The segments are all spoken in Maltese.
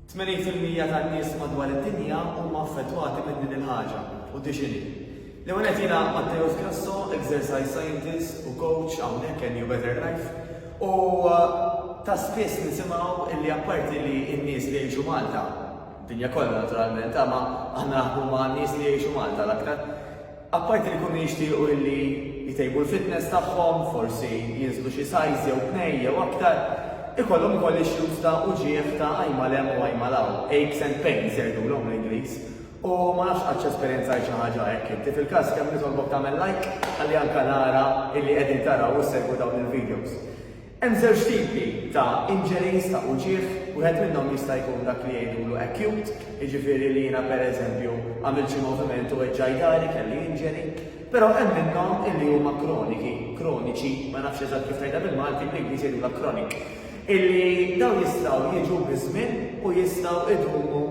Tmenin fil-mija tan-nies madwar id-dinja huma affettwati minn din il-ħaġa, u di x'inhi. L-ewwel nett jiena Matteus Grasso, exercise scientist u coach hawnhekk Can You Better Life, u ta' spiss nisimgħu illi apparti li n-nies li jgħixu Malta, dinja kollha naturalment, ma aħna huma n-nies li jgħixu Malta l-aktar, Apparti li jkunu jixtiequ illi jtejbu l-fitness tagħhom, forsi jinżlu xi size jew tnejn jew aktar, ikollhom ukoll issues ta' uġigħ ta' għajn mal hemm u għajn mal hawn, aches and pains jgħidulhom bl-Ingliż. U ma nafx qadx esperjenzajt xi ħaġa hekk inti. Fil-każ kemm nitolbok tagħmel like ħalli anke nara illi qegħdin taraw u ssegwu dawn il-videos. Hemm żewġ tipi ta' injuries ta' uġigħ, wieħed minnhom jista' jkun dak li jgħidulu acute, jiġifieri li jiena pereżempju għamilt xi moviment u weġġaj dahri, kelli injury, però hemm minnhom illi huma kroniki, kroniċi, ma nafx eżatt kif tgħidha bil-Malti, bl-Ingliż jgħidulha chronic, illi dawn jistgħu jiġu biż-żmien u jistgħu jdumu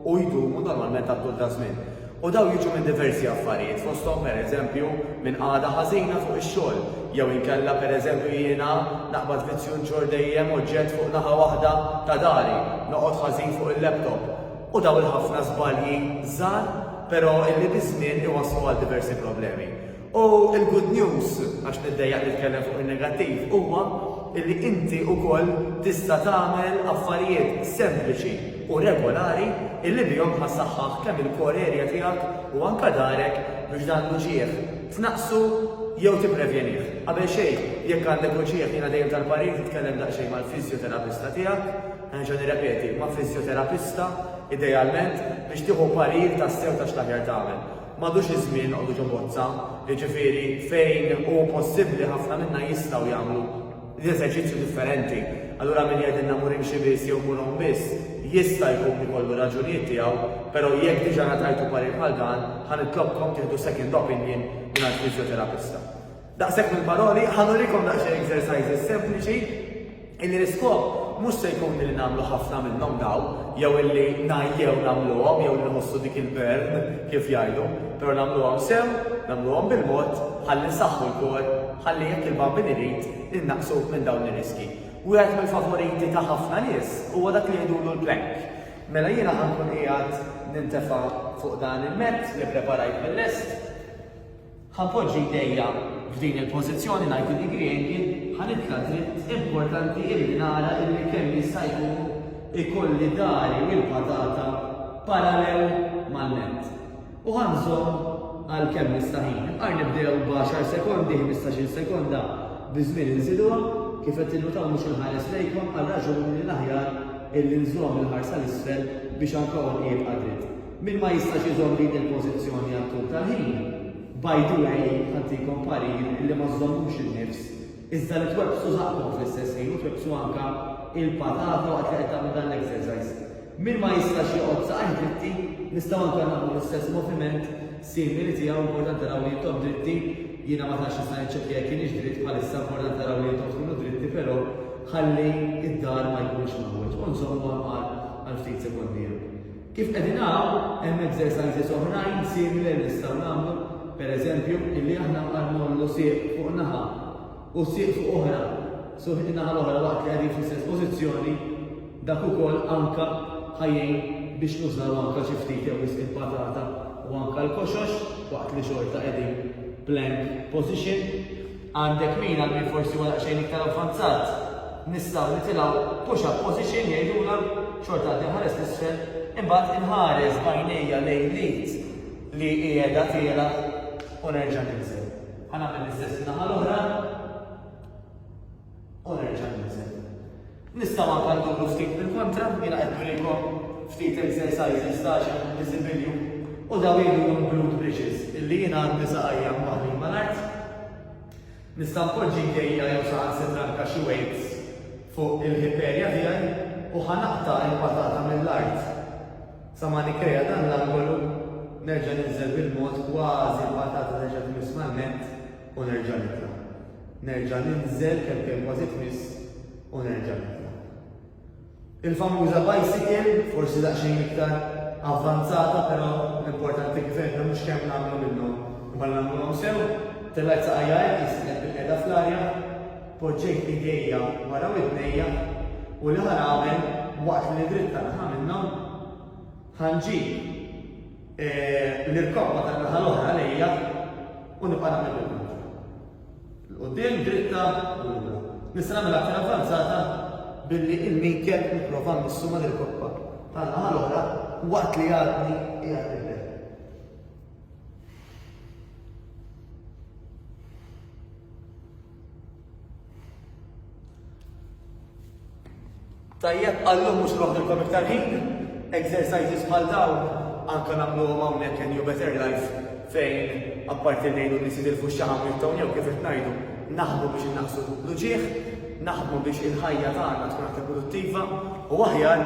u jdumu normalment għal tul ta' żmien. U dawn jiġu minn diversi affarijiet, fosthom pereżempju minn qagħda ħażina fuq ix-xogħol, jew inkella pereżempju jiena naqbad vizzju nġorr dejjem oġġett fuq naħa waħda ta' dari, noqgħod ħażin fuq il-laptop. U dawn il-ħafna żbalji żgħar, però illi biż-żmien iwasslu għal diversi problemi. U l-good news, għax niddejjaq nitkellem fuq in-negattiv, huwa li inti wkoll tista' tagħmel affarijiet sempliċi u regolari li bihom ħassaħħaħ kemm il-core area tiegħek u anke darek biex dan l-uġigħ tnaqqsu jew tipprevjenih. Qabel xejn, jekk għandek uġigħ jiena dejjem tal-parir titkellem daqsxejn mal-fiżjoterapista tiegħek, nerġa' nirrepeti, ma' fiżjoterapista idealment biex tieħu parir tassew ta' x'l-aħjar tagħmel. M'għadux iż-żmien noqogħdu ġo bozza, jiġifieri fejn hu possibbli ħafna minna jistgħu jagħmlu l-eżerċizzju differenti. Allura min jgħidilna mur imxi biss jew mur għum biss, jista' jkun ikollu raġunijiet tiegħu, però jekk diġà ngħatajtu parir bħal dan, ħa nitlobkom tieħdu second opinion mingħand fiżjoterapista. Daqshekk mill-paroli, ħa nurikom daqsxejn exercises sempliċi illi l-iskop mhux se jkun li nagħmlu ħafna minnhom daw, jew illi ngħajjew nagħmluhom jew li nħossu dik il-burn kif jgħidu, però nagħmluhom sew, nagħmluhom bil-mod, ħalli nsaħħu l-kor, ħalli jekk il-bambin irid innaqsu minn dawn ir-riski. Wieħed mill-favoriti ta' ħafna nies huwa dak li jgħidulu l-plank. Mela jiena ħankun qiegħed nintefa' fuq dan il-mezz li preparajt mill-lest Ħa poġġi jdejja f'din il-pożizzjoni ngħid li Griegi ħa nitla' dritt importanti illi nara illi kemm jista' jkun ikolli dari u l-patata parallel mal-nett. U ħa nżomm għal kemm nista' ħin. Imqar nibdew b'għaxar sekondi, ħmistax-il sekonda biż-żmien inżiduha. Kif qed tinnutaw mhux inħares lejkom għal raġuni li l-aħjar illi nżomm il-ħarsa 'l isfel biex anka għonqi jibqa' dritt. Min ma jistax iżomm din il-pożizzjoni għat-tul tal-ħin, by the way, ħantikom parir li ma żżommux in-nifs, iżda li twebbsu żaqqkom fl-istess ħin u twebbsu anke l-patata waqt li qed tagħmlu dan l-exercise. Min ma jistax joqgħod saqajh dritti, nistgħu anke nagħmlu l-istess moviment simili tiegħu, importanti naraw li intom dritti, jiena ma tantx nista' niċċekkja jekk kienx dritt bħalissa, importanti naraw li intom tkunu dritti però ħalli id-dar ma jkunx maħwieġ. U nżommu għal ftit sekondi hemm. Kif qegħdin hawn, hemm exercises oħrajn simili li nistgħu nagħmlu, per eżempju, illi aħna nbqgħu nmollu sieq fuq naħa u sieq fuq oħra, suq in-naħa l-oħra waqt li qegħdin fl-istess pożizzjoni, dak ukoll anke ħajjin biex nużaw anke xi ftit jew wisq il-patata u anke l-koxox waqt li xorta qegħdin plank position. Għandek min għal min forsi huwa daqsxejn iktar avvanzat, nistgħu nitilgħu push up position jgħidulha, xorta għad inħares 'l isfel, imbagħad inħares b'għajnejja lejn l-id li qiegħda tielgħa u nerġa' ninżel. Ħa nagħmel l-istess in-naħa l-oħra. U nerġa' ninżel. Nistgħu anke nduru ftit bil-kontra, jiena qed nurikom ftit exercises ta' xi visibilju u daw jgħidulhom glute bridges illi jiena għandi saqajja mbaħli mal-art. Nista' npoġġi jdejja jew saħan sitra anke xi weights fuq il-hip area tiegħi u ħanaqta' il-patata mill-art. Sa ma nikkrea dan l-angolu nerġa' ninżel bil-mod kważi l-patata terġa' tmiss man-nett u nerġa' nitla', nerġa' ninżel kemm kien kważi tmiss u nerġa' nitla'. Il-famuża bicycle, forsi daqsxejn iktar avvanzata però l-importanti kif għedna mhux kemm nagħmlu minnhom imma nagħmluhom sew, tellgħet saqajja hekk li sibtni bil-qiegħda fl-arja, poġġejt idejja wara widnejja u l-aħħar għamel waqt li nidritta naħa minnhom, Ħa nġi eh, nirkoppa ta' naħa l-oħra lejja u nibqa' nagħmel il-manġa. L-qudiem dritta u lura. Nista' nagħmel aktar avvanzata billi il-min kelb nipprova nissu ma' nirkoppa ta' naħa l-oħra waqt li għadni qiegħed nibda. Tajjeb, għallum mhux noħdilkom iktar ħin, exercises bħal dawn anke nagħmluhom hawnhekk in New Better Life fejn apparti ngħidu li sidil fuq xaħam jibtawn jew kif qed ngħidu naħdmu biex innaqsu l-ġieħ, naħdmu biex il-ħajja tagħna tkun aktar produttiva u aħjar